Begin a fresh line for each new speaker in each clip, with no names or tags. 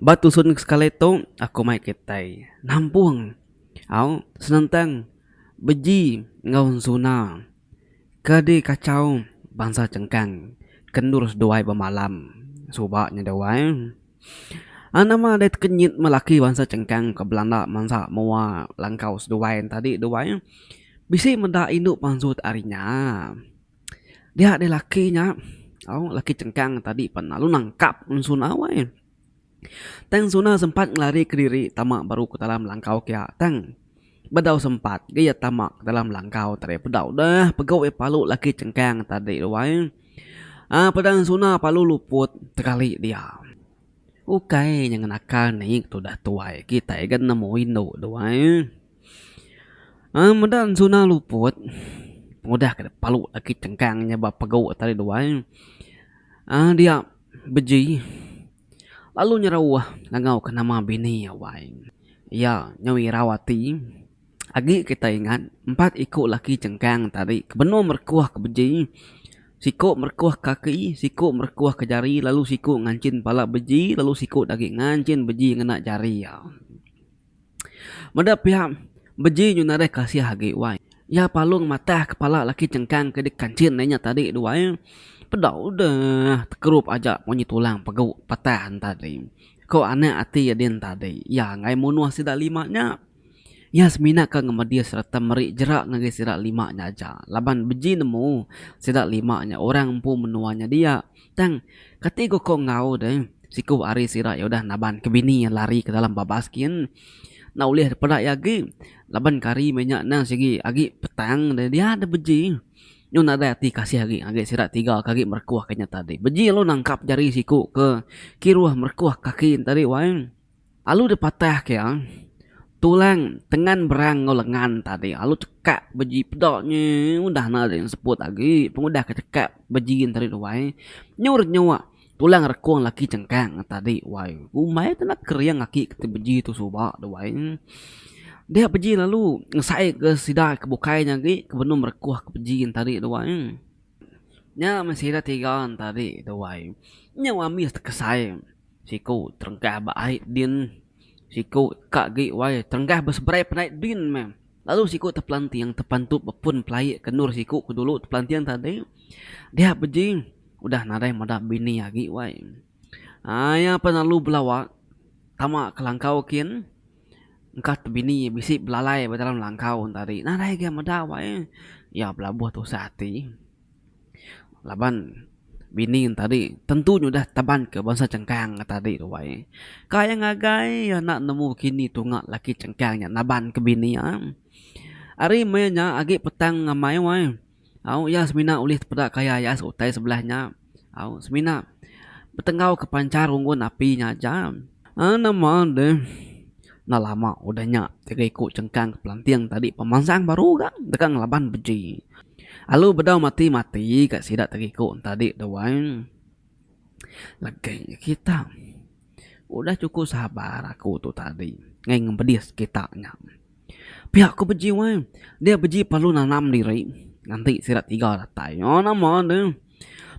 Ba tusun sekali tu aku mai kitai nampung au senentang beji enggau ensuna ke dikachau bansa chengkang ke endur seduai bemalam suba nya duai nama dei tekenyit meh laki bansa chengkang ke belanda mansa mua langkau seduai enti tadi duai bisi meda indu pansut ari nya. Dia deh laki nya tau laki chengkang tadi pan lalu nangkap suna weh tang suna sempat ngelari kediri tama baru ke dalam langkau pia tang bedau sempat deh iya tama dalam langkau tadi bedau deh pegu iya palu laki chengkang tadi tu wai aaa pedang suna palu luput tekali dia ukai nyengenakan nik tudah tuai kitai ga nemu indu tu wai. Ai meda ensuna luput pengudah ke palu agi tengkang nya ba pegu tali dua ai dia beji lalu nyerauh ngangau ke nama bini awai iya nyau irau ati agi kita ingat empat iku laki chengkang tadi ke benung merekuh ke beji siku merekuh ke kaki siku merekuh ke jari lalu siku nganchin pala beji lalu siku agi nganchin beji ngena jari iya. Meda piak beji nyu nadai kasih agi wai. Iya palung matah kepala laki chengkang ke dikanchin deh nya tadi tu wai. Peda udah tekerup aja munyi tulang pegu patah tadi. Ko anak ati din tadi iya angai munuh sida lima nya. Iya semina ke ngemedih sereta meri jerak ngagai sida lima nya aja laban beji nemu sida lima nya orang empu menua nya dia. Tang, kati ku ko enggau deh, siku ari sida iya udah naban ke bini iya lari ke dalam babas gin. Enda ulih dipeda iya agi laban ke hari meh nya nang sigi agi petang deh dia deh beji. Nyu nadai ati kasih agi ngagai sida tiga ke agi merekuh ke nya tadi. Beji lalu nangkap jari siku ke kiruh merekuh kaki ne tadi wai. Alu dipatah ke iya, tulang tengan berang enggau lengan tadi alu chekap beji peda nyi udah enda lagi seput agi pengudah ke chekap beji tadi tu wai nyu renyuk tulang rekung laki chengkang ngan tadi wai umai tu enda kering aki ke ti beji tu suba tu wai dia beji lalu ngesai ke sida ke bukai nya agi ke benung merekoh ke beji tadi tu wai. Nya meh sida tiga entadi tuai. Nyau amis tekesai siku terengkah ba ai din siku ka gi wai terengkah beseberai penai din meh lalu siku tepelanting tepantup ba pun pelaie ke endur siku ke dulu tepelanting tadi dia beji udah nadai meda bini agi wai. Ai iya pe lalu belawa tama ke langkau kin. Engka tu bini iya bisi belalai ba dalam langkau enta ari nadai ga meda awak iya. Iya belabuh tusah ati laban bini enta ari tentu nyudah taban ke bansa chengkang enta ari tu ai. Ka iya ngagai iya enda nemu kini tunga laki chengkang nya naban ke bini iya. Ari meh iya nya agi petang ngamai wai. Au iya semina ulih tepeda kaya iya seutai sebelah nya. Au semina betenggau ke panchar unggun api nya aja. Aa nama deh enda lama udah nya tiga iku chengkang ke pelanting tadi pemansang baru ga deka ngelaban beji. Alu bedau mati mati ga sida tiga iku enti adi dua. Legek nya kita. Udah chukup sabar aku tu tadi ngai ngempedih sekitak nya. Pia aku beji weh. Dia beji perlu nanam diri nganti sida tiga datai. Nyau nama deh.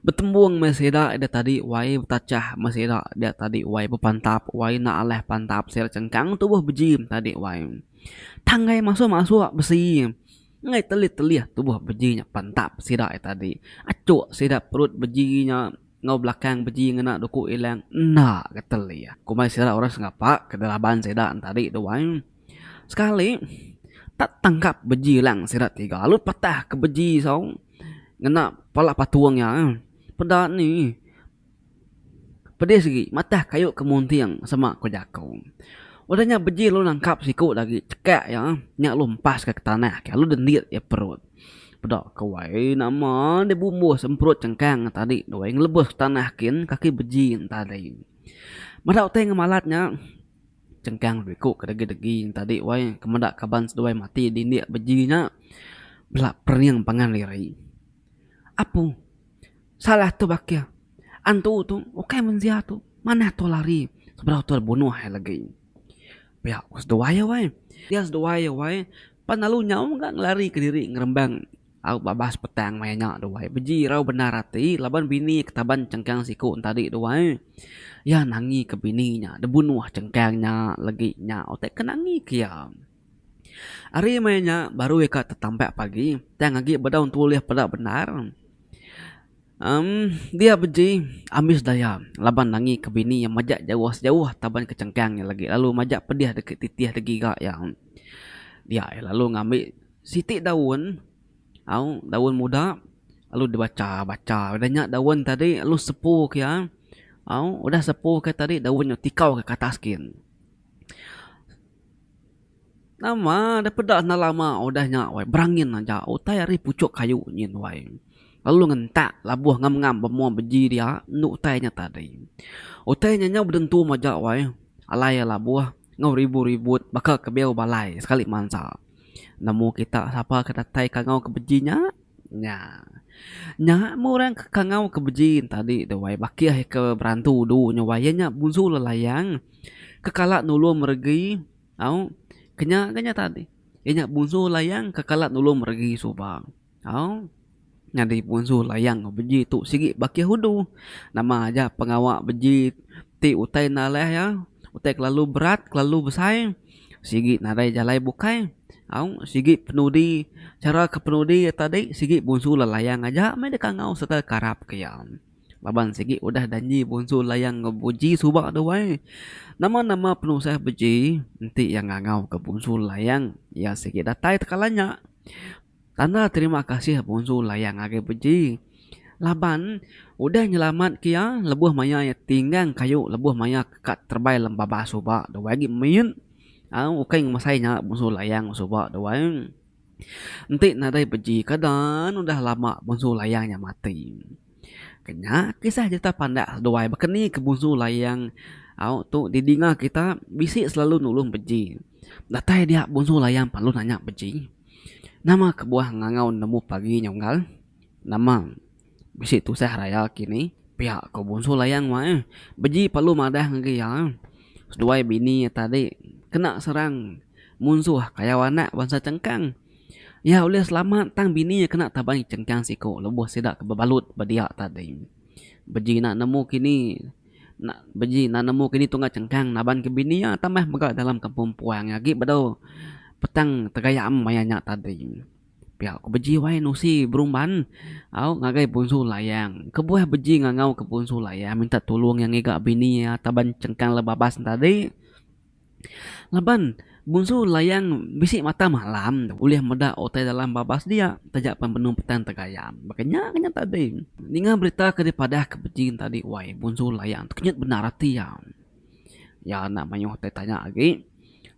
Betembung meh sida ida tadi wai betachah meh sida dia tadi wai bepantap wai enda alih pantap sida chengkang tubuh beji tadi wai. Tang ngai masuk masuk besi ngai telih telih tubuh beji nya pantap sida tadi. Achok sida perut beji nya. Enggau belakang beji ngena duku ilang enda getel iya. Kumbai sida orang sengapa ke di raban sida entadi tu ai. Sekali tak tangkap beji ilang sida tiga lalu patah ke beji sau ngena pala patung iya. Peda ni pedis agi matah kayu ke munting sema ku jaku. Udah nya beji lalu nangkap siku agi chekak iya nya lalu empas ke tanah lalu dendit iya perut. Peda ke wai nama deh bumbuh semprut chengkang tadi deh wai ngelebus tanah kin kaki beji entah deh. Meda utai ngemalat nya chengkang deh ku kedegi-degi entah deh wai ke meda kaban seduai mati di indi beji nya bela pering pangan diri. Apu salah tu bakih antu tu ukai mensia tu manah tu lari sebedau tu bunuh iya legi. Pia ku seduai iya wai. Pia seduai iya wai pan lalu nyau mega ngelari ke diri ngerembang au babas petang maya nya tu wai. Beji irau bendar ati laban bini iya ketaban chengkang siku entadi tu wai. Iya nangi ke bini nya debunuh chengkang nya legi nya utai ke nangi ke iya. Ari maya nya baru iya ka tetampak pagi tang agi bedau ntu ulih peda bendar. Emm dia beji ambis daya laban nangi ke bini iya majak jauh sejauh taban ke chengkang iya lagi lalu majak pedih deki titih da giga iya. Dia iya lalu ngambi siti daun au daun muda lalu dibacha bacha udah nya daun tadi lalu sepu ke iya au udah sepu ke iya tadi daun nya tikau ke atas gin. Nama deh peda enda lama udah nya wai berangin aja utai ari puchok kayu nyin wai lalu ngentak labuh ngam ngam bemua beji dia enda utai nya tadi. Utai nya nyau bedentum aja wai alai labuh enggau ribut ribut baka ke beo balai sekali mansa nemu kita sapa ke datai kangau ke beji nya nya nya meh orang ke kangau ke beji nya tadi tu wai bakih ke berantu du nya wai iya nya busu lelayang ke kala nulung meregi. Au. Kenya ga nya tadi. Inya Punsu Layang ke kala nulung meregi suba. Au. Nyadi Punsu Layang ke beji tu sigi baki hudu. Nama aja pengawa beji ti utai enda alai iya, utai kelalu berat, kelalu besai, sigi nadai jalai bukai. Au. Sigi penudi, chara ke penudi iya tadi sigi Punsu Lelayang aja meh dikangau sereta dikarap ke iya. Laban sigi udah danji Bonsu Layang enggau Buji suba tu wai. Nama-nama penusah Buji enti iya ngangauka Bonsu Layang iya sigi datai tekala nya. Tanda terima kasih Bonsu Layang ngagai Buji laban udah nyelamatka iya lebuh maya iya tinggang kayu lebuh maya ka terebai lem babas suba tu wai agi mit au ukai ngemesai nya Bonsu Layang suba tu wai. Enti nadai beji ke dan udah lama Bunsu Layang nya mati. Ke nya kisah jerita pandak seduai baka ni ke Bunsu Layang au tu didinga kita bisi selalu nulung beji. Datai dia Bunsu Layang parlu nanya beji, nama kebuah ngangau nemu pagi nya unggal? Nama. Bisi tusah raya kini pia ko Bonsu Layang mak eh. Beji perlu madah ngagai iya eh. Seduai bini iya tadi kena serang munsuh kayau anak bansa Chengkang. Iya ulih selamat tang bini iya kena tabai Chengkang siko lebuh sida ke bebalut ba dia tadi. Beji enda nemu kini enda beji enda nemu kini tungga Chengkang naban ke bini iya tambah mega dalam kampung Puang agi bedau petang tegayam maya nya tadi. Pia ku beji wai nusi berumban au ngagai punsu layang. Kebuah beji ngangau ke punsu layang minta tulung iya ngiga bini iya taban chengkang le babas ne tadi. Laban punsu layang bisi mata malam ulih meda utai dalam babas dia taja pan benung petang tegayam. Baka nya ke nya tadi. Ninga berita ke dipadah ke beji ne tadi wai punsu layang tu kenyit bendar ati iya. Iya enda mayuh tai tanya agi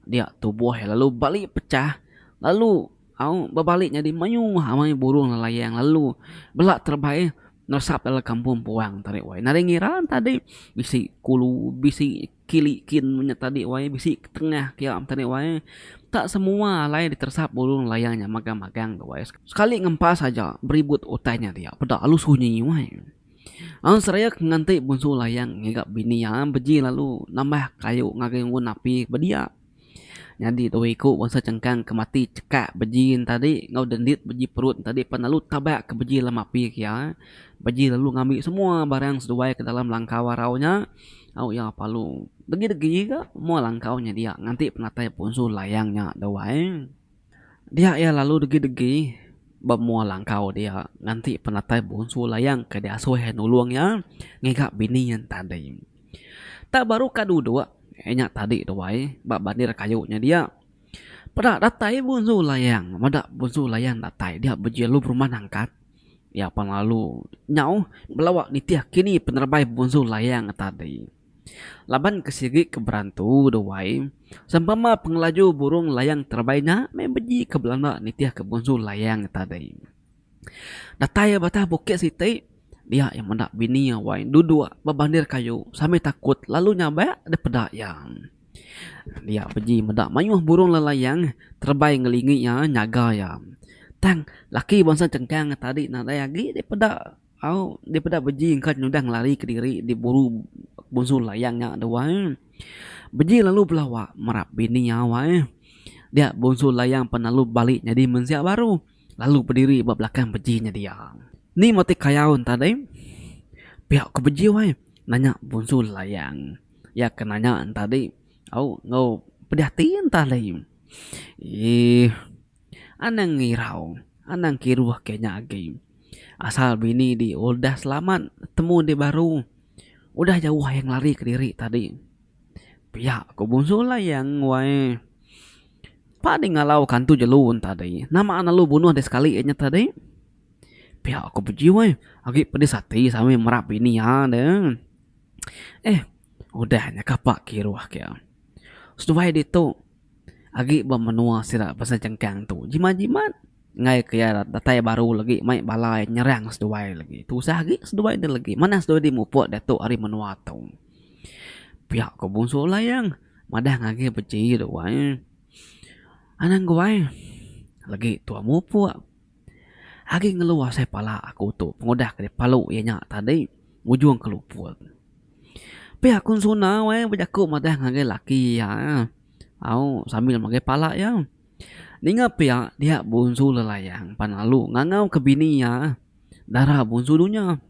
dia tubuh iya lalu bali pechah lalu. Au, bebalik nyadi mayuh amai burung lelayang lalu bela terebai neresap dalam kampung puang tadi wai. Nadai ngira tadi bisi kulu, bisi kili kin nya tadi wai, bisi tengah kia tadi wai. Enta semua alai diteresap burung lelayang nya magang-magang tu wai. Sekali ngempas aja beribut utai nya dia. Peda lalu sunyi wai. Au seraya ke nganti bunsu layang ngiga bini iya beji lalu nambah kayu ngagai unggun api bediak. Nyadi dua iku bansa chengkang ke mati chekak beji entadi enggau dendit beji perut entadi pan lalu tabak ke beji lem api ke iya. Beji lalu ngambi semua barang seduai ke dalam langkau arau nya au iya palu. Degi degi ga moa langkau nya dia nganti penatai punsu layang nya dau ai. Dia iya lalu degi degi ba moa langkau dia nganti penatai punsu layang ke diasuh iya nulung iya ngiga bini iya entadi. Tang baru ka duduk inya tadi tu ai ba bandir kayu nya dia. Peda datai Bunsu Layang. Meda Bunsu Layang datai dia bejilu perumah nangkat. Iya pan lalu nyauh belawa nitih kini penerebai Bunsu Layang tadi. Laban ke sigi ke berantu tu ai, sempama pengelaju burung layang terebai nya meh beji ke belanda nitihka Bunsu Layang tadi. Datai iya batah bukit siti, dia iya meda bini iya wai duduk ba bandir kayu sambil takut lalu nyabak dipeda iya. Dia beji meda mayuh burung lalayang terebai ngelingi iya nyaga iya. Tang laki bansa chengkang iya tadi nadai agi dipeda au dipeda beji engka nyudah ngelari kediri diburu bunsu layang nya deh wai. Beji lalu belawa merap bini iya wai. Dia bunsu layang pan lalu balik nyadi mensia baru. lalu bediri ba belakang beji nya dia. Ni meh ti kayaun tadi? Pia ku beji wai, nanya Bunsu Layang. Iya ke nanya entadi au enggau pedih ati entadi. Eeh anang ngirau, anang kiruh ke nya agi. Asal bini di udah selamat, temu di baru. Udah jauh ahi ngelari kediri tadi. Pia ku Bunsu Layang wai. Pa deh ngalau kantu jelu tadi. Nama anak lu bunuh deh sekali inya tadi. Pia ku Beji wai. Agi pedis ati sami merap bini iya deh. Eh udah nya kapa kiruh ke. Seduai ditu. Agi ba menua sida pasal chengkang tu jimat jimat enggai ke iya datai baru lagi mai bala iya nyerang seduai lagi tusah agi seduai enda lagi manah seduai ti mupuk datuk ari menua tu pia ko bunsu layang madah ngagi ba ji tu wai anang guai lagi tua mupuk. Agi ngelu asai pala aku tu pengudah ke dipalu iya nya tadi ngujung ke luput. Pia aku nsuna weh bejaku madah ngagai laki iya eh au sambil magai pala iya. Ninga pia dia bonsu Lelayang pan lalu ngangau ke bini iya eh dara bonsu dunya.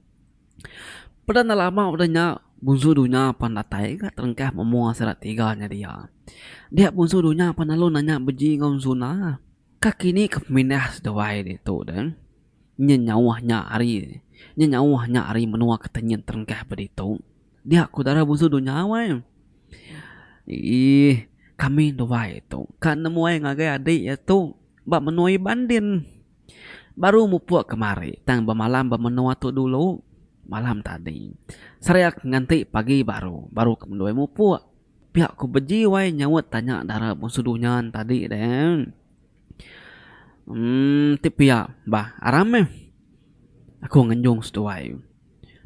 Peda enda lama udah nya bonsu dunya pan datai ka terengkah memoa sida tiga nya dia. Dia bonsu dunya pan lalu nanya beji enggau nsuna. Kaki ni ke pemindah seduai ditu de, nyin nyauh nya ari nyin nyauh nya ari menua ke tenyin terengkah ba ditu, dia ku dara busu dunya wai. Iih, kami nduai tu ka nemuai ngagai adi iya tu ba menua Iban din. Baru mupuk kemari tang bemalam ba menua tu dulu, malam tadi. Sariak nganti pagi baru, baru ke mendui mupuk. Pia ku beji wai nyaut tanya dara bungsu Dunyan tadi deh. Emm ti pia bah aram meh aku ngenjung seduai.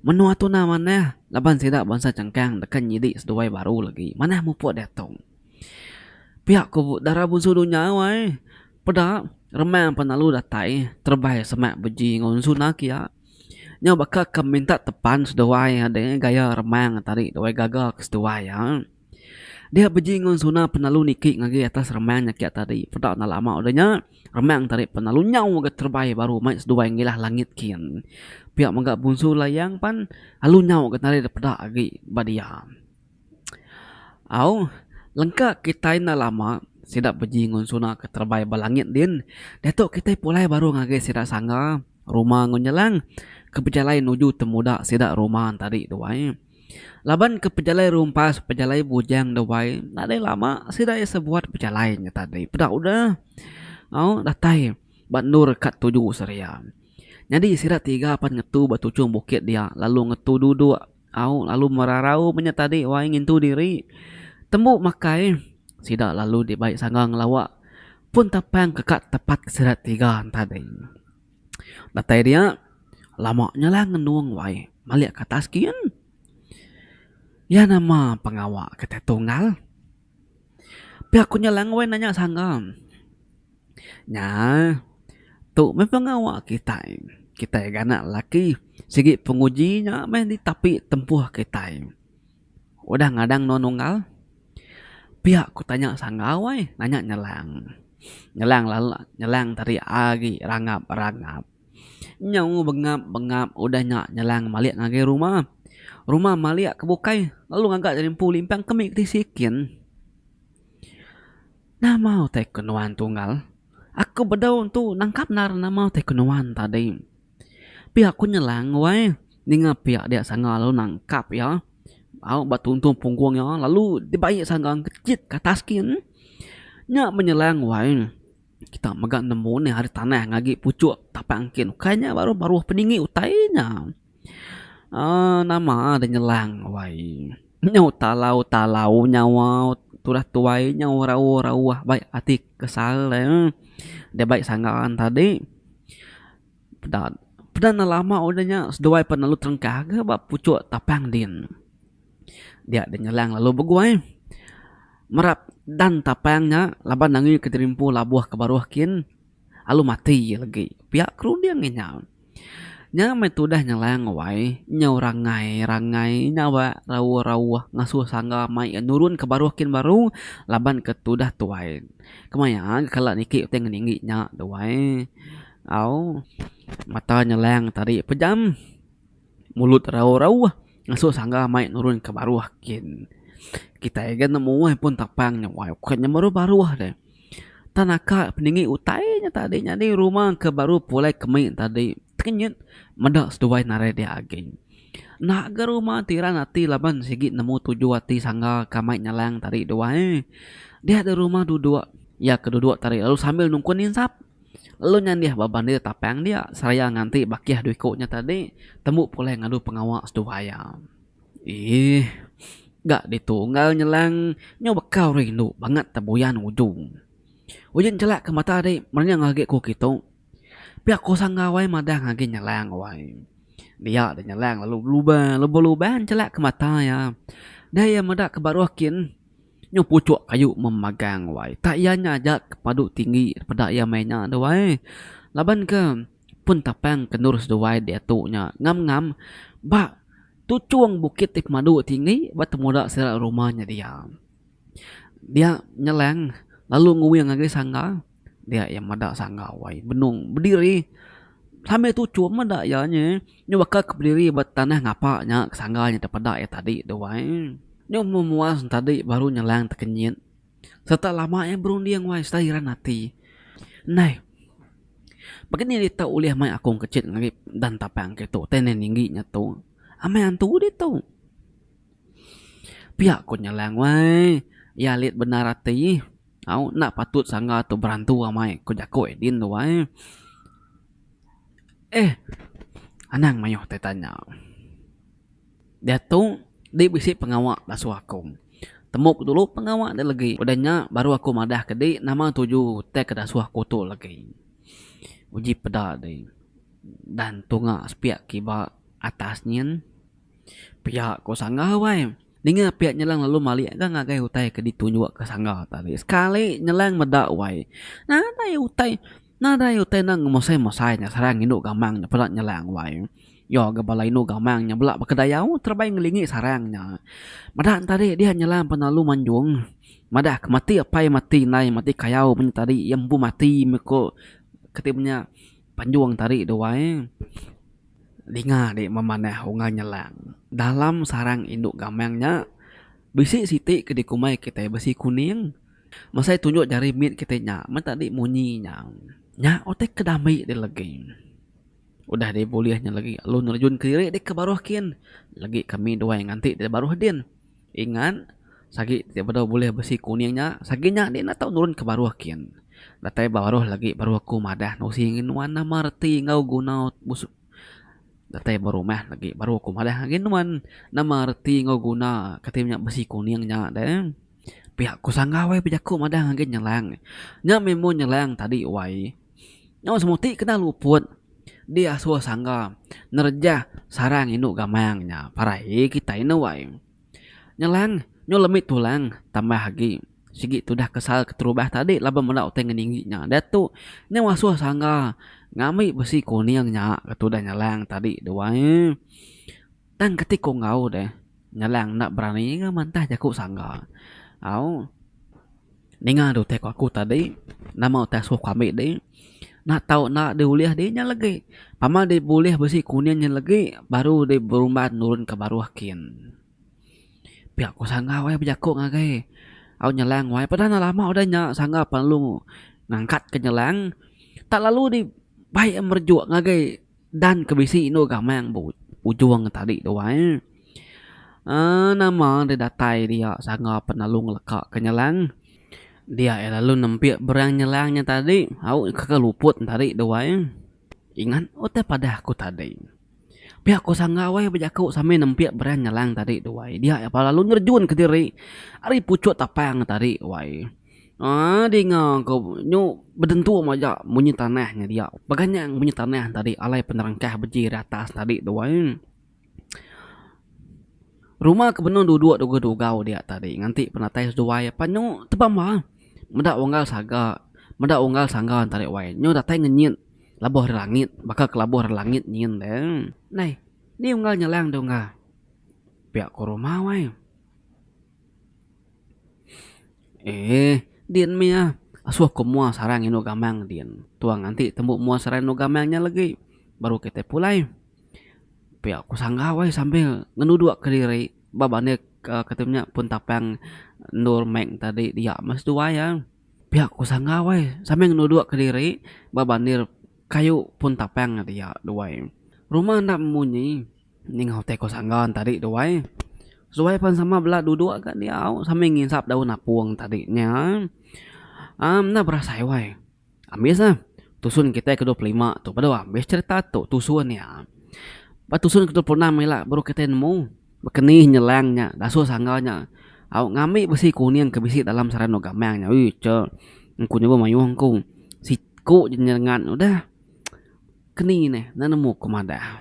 Menua tuna manah laban sida bansa chengkang deka nyidi seduai baru lagi manah mupuk diatu. Pia ku dara bungsu Dunya wai peda remang penalu datai terebai semak beji enggau ensuna kia. Nyau baka ke minta tepan seduai deh gaya remang ke tadi deh weeh gaga ke seduai iya. Dia beji ngen suna penelu niki ngagi atas remang nya kiya tadi peda enda lama deh nya remang tadi penelu nyau mega terebai baru mai seduai ngilah langit kin. Pia mega Bunsu Layang pan alu nyau getaria deh peda agi ba dia. Au, lengka kitai enda lama sida beji ngonsuna ke terebai ba langit din. Diatu kitai pulai baru ngagai sida sangga ruma enggau nyelang ke bejalai nuju temuda sida ruma tadi tu ai. Laban ke pejalai rumpas, pejalai bujang tu ai nadai lama sida iya sebuat bejalai nya tadi peda udah. Au, datai ba endur ka tuju seraya. Nyadi sida tiga pan ngetu ba tuchung bukit dia lalu ngetu duduk Au lalu merarau menya tadi wai ngintu diri. Tembu makai, sida lalu dibai sangga ngelawa pun tapang ke ka tepat ke sida tiga tadi. Datai dia, lama nya lah ngenung wai malik ke atas gin. Iya nama pengawa kita tunggal. Pia ku nya langoi nanya sangam. Nya tu meh pengawa kitai. Kitai ga anak lelaki sigi penguji nya meh ditapi tempuh kitai. Udah ngadang nuan unggal. Pia ku tanya sangau ai nanya nyelang. Nyelang lalu nyelang tadi agi rangap rangap. Nyau bengap bengap udah nya nyelang ngembalik ngagai ruma. Ruma malik ke bukai lalu ngaga jadi empu limpang ke mih ke tisi kin. Nama utai ke nuan tunggal. Aku bedau tu nangkap endar nama utai ke nuan tadi. Pia ku nyelang wai ninga pia dia sanga lalu nangkap iya au ba tuntung punggung iya lalu dibai sanga ke chit ke atas kin. Nya menyelang wai. Kita mega nemu nih ari tanah ngagi puchuk tapak engkin. Ukai nya baruh baruh peninggi utai nya. Uh, nama ada nyelang wai. Nyau talau talau nyau turah tuai nyau rauh rauh bai ati kesal eh. Dia bai sangga tadi. Peda, peda enda lama udah nya seduai pan lalu terengkah ga ba puchuk tapang din. Dia deh nyelang lalu beguai merap dan tapang nya laban angi kedirimpu labuh ke baruh kin lalu mati iya legi. Pia ke runding inya. Nya meh tudah nyelang wai nyau rangai rangai nya ba rauh rauh ngasuh sangga mai iya nurun ke baruh kin baru laban ke tudah tuai. Kemaya kala niki utai ngeringgi nya duai. Au, mata nyelang tadi pejam, mulut rauh-rauh ngasuh sangga mai nurun ke baruh kin. Kitai ga nemu ai pun tapang nya wai ukat nya baruh baruh deh. Tang naka peninggi utai nya tadi nyadi rumah ke baruh pulai kemi tadi tekenyit meda seduai narai dia agi. Enda ga rumah ti ran ati laban sigi nemu tuju ati sangga ka mai nyelang tadi duai. Dia deh rumah duduk iya ke duduk tadi lalu sambil nungkun insap. lalu nyandih ba bandir tapang dia seraya nganti bakih dua iku nya tadi tembu pulai ngadu pengawa seduai iya. Eeh ga ditu enggau nyelang nyau bekau rindu bangat tebuyan uju. Uji nchelak ke mata di merenyang agi ku kitu pia ku sangga wai madah agi nyelang wai dia di nyelang lalu belubang lalu belubang nchelak ke mata iya. Dei iya meda ke baruh kin Nyu puchuk kayu memagang wai. Tak iya nya aja ke padu tinggi peda iya meh nya tu wai. Laban ke pun tapang ke endur seduai diatu nya ngam ngam ba tuchung bukit ti pemadu tinggi ba temuda sida rumah nya dia. Dia nyelang lalu nguing agi sangga. Dia iya meda sangga wai benung bediri sambil tuchum meda iya nyi nyu baka ke bediri ba tanah ngapa nya ke sangga nya dep peda iya tadi tu wai nyu meh muas tadi baru nyelang tekenyit serta lama iya berunding wai serta hiran ati neh baka ni dita ulih mai akung kechet ngagai dan tapang ke tu tai neh ninggi nya tu amai antu ditu pia ku nyelang wai iya alit bendar ati. Au enda patut sangga tu berantu amai ko jako Edin tu ai. Eh anang maioh tai tanya. Diatu di bisi pengawa basuh aku. Temup dulu pengawa dia legi udah nya baru aku madah ke di nama tuju tai ke dasuh aku tu legi. Uji peda di dan tunga sepiak kiba atas nyin. Pia ko sangga wai. Ninga pia nyelang lalu malik ga ngagai utai ke ditu nyua ke sangga tadi. Sekali nyelang meda wai. Nadai utai nadai utai enda ngemosai-mosai nya sarang indu gamang nya peda nyelang wai. Yo ga bala indu gamang nya bela bekedayau terebai ngelingi sarang nya. Meda ne tadi dia nyelang penelalu manjung madah ke mati apai mati indai mati kayau mung tadi iya empu mati meh ko keti menya. Panjung tadi tu ai dinga dek memanah ungan nyelang dalam sarang indu gamang nya bisi siti ke dikumbai kitai besi kuning mesai tunjuk jari mit kitai nya meh tadi munyi nya nya utai ke dami dilegui udah deh bulih nya legi lalu nerjun kediri deka baruh kin legi kami duai nganti deh baruh din. Ingat, sagi ti bedau bulih besi kuning nya, sagi nya nih enda tau nurun ke baruh kin. Datai ba baruh lagi baru aku madah nusi ngin nuan nama reti enggau guna bus datai ba rumah lagi baru aku madah ngin nuan nama reti enggau guna kati nya besi kuning nya deh. Pia ku sangau ai bejaku madah ngin nyelang. Nya mih mun nyelang tadi wai. Nyau semua ti kena luput diasuh sangga nerejah sarang indu gamang nya parai kitai nuai. Nyelang nyu lemi tulang tambah agi sigi tudah kesal keterubah tadi laban meda utai ngening agi nya. Diatu nyau asuh sangga ngambi besi kuning nya ke tudah nyelang tadi duai. Tang keti ku enggau deh nyalang enda berani enggau mantah jaku sangga. Au ninga deh utai ku aku tadi nama utai asuh ku ambi deh enda tau enda deh ulih deh nya legi pama deh bulih besi kuning nya legi baru deh berumban nurun ke baruh kin. Pia ku sangga wai bejaku ngagai au nyalang wai peda enda lama udah nya sangga perlu ngangkat ke nyalang tak lalu deh bai merejuk ngagai. Dan ke bisi indu gamang ba ujung tadi tu ai. Aaa nama deh datai dia sanga penelu ngeleka ke nyelang. Dia iya lalu nempik berang nyelang nya tadi. Au ke ke luput ne tadi tu ai. Ingat utai padah ku tadi. Pia ku sanga weh bejaku sambil nempik berang nyelang tadi tu ai. Dia iya pa lalu nerejunka diri ari puchuk tapang tadi wai. Ading ah ko nyu betentu mah aja munyi tanah nya dia beganyang munyi tanah nya tadi alai penerangkah beji ri atas tadi tu ai rumah ke benung duduk dugau dugau dia tadi nganti penatai seduai pan nyu tebam bah meda unggal saga meda unggal sangga enta deh wai nyu datai ngenyit labuh ri langit baka ke labuh ri langit nyin deh nai ni unggal nyelang dungga pia ko rumah wai. Eeh din mih ah asuh ku mua sarang indu gamang din tuang nganti tembu mua sarang indu gamang nya legi baru kita pulai pia ku sanggau ai sambil ngenuduk ke diri ba bandik uhh kita nya pun tapang endur mek tadi dia meh seduai ah pia ku sanggau ai sambil ngenuduk ke diri ba bandir kayu pun tapang dia duai rumah enda munyi. Ningau teko sanggan tadi tu wai. Suwai pan sama bela duduk ga diau sambil ngisap daun apung tadi nya. Am enda berasai wai. Ambis lah tusun kitai ke dua puluh lima tu peda ambis cherita tu tusun nya. Ba tusun ke dua puluh enam ila baru kitai nemu bekenih nyelang nya dasuh sangga nya au ngambi besi kuning ke bisi dalam sarang endur gamang nya. Ui cha engku nyebut mayuh engku. Siku je nyengat udah keni neh enda nemu ku madah.